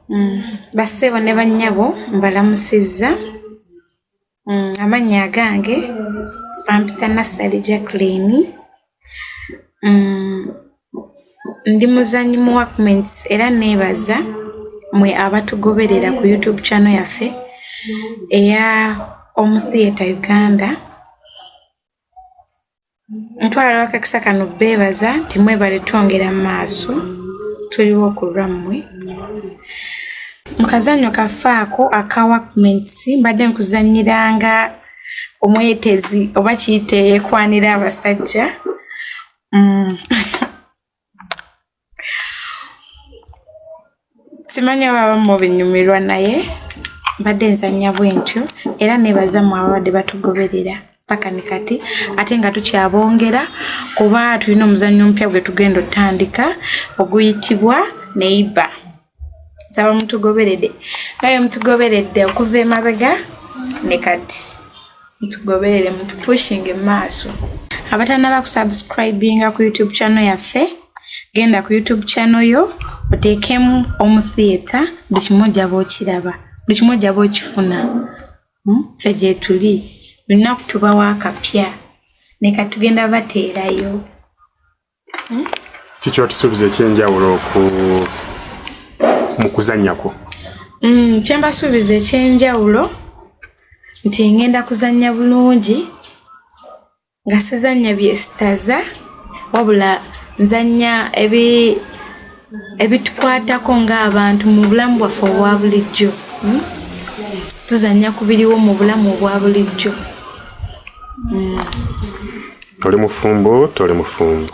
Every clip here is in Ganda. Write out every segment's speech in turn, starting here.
mm, bassebo ne bannyabo mbalamusizza mm, amannya agange bampita nassali jacklini mm, ndi muzanyi mu workments era neebaza mwe abatugoberera ku youtube channel yaffe eya omutheatre uganda ntwala abakakisa kano beebaza nti mwebale twongera mu maaso tuliwo ku lwammwe mu kazannyo kaffe ako aka wakments mbadde nkuzannyiranga omwetezi oba kiyita eyekwanira abasajja mm. simanyi ababa mubinyumirwa naye mbadde nzanya bwentyo era nebaza mu ababadde batugoberera paka ni kati ate nga tukyabongera kuba tulina omuzannyo omupya gwe tugenda otandika oguyitibwa neiba nsaba mutugoberede naye mutugoberedde okuva emabega ne kati mutugoberere mutupushinge mu maaso abatanaba kusubscribinga ku youtube channel yaffe genda ku youtube channel yo oteekemu omutheatre buli kimu ojaba okiraba buli kimu ojaba okifuna hmm? fe gyetuli lunaku tubawo akapya neka tugenda bateerayo kiki otusuubiza ekyenjawulo ku mu kuzannya kwo mm, kyembasuubiza ekyenjawulo nti ngenda kuzannya bulungi nga sizannya byesitaza wabula nzannya ebi ebitukwatako ng'abantu mu bulamu bwaffe obwa bulijjo hmm? tuzanya ku biriwo mu bulamu obwa bulijjo hmm. toli mufumbo toli mufumbo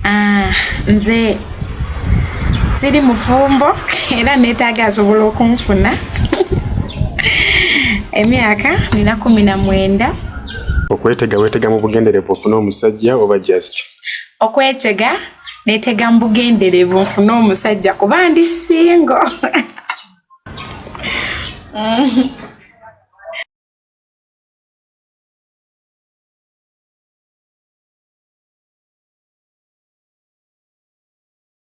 ah, nze siri mufumbo era neetaaga asobola okunfuna emyaka nina kumi na mwenda okwetega wetega mu bugenderevu ofuna omusajja oba just okwetega netega mu bugenderevu nfune omusajja kuba ndi singo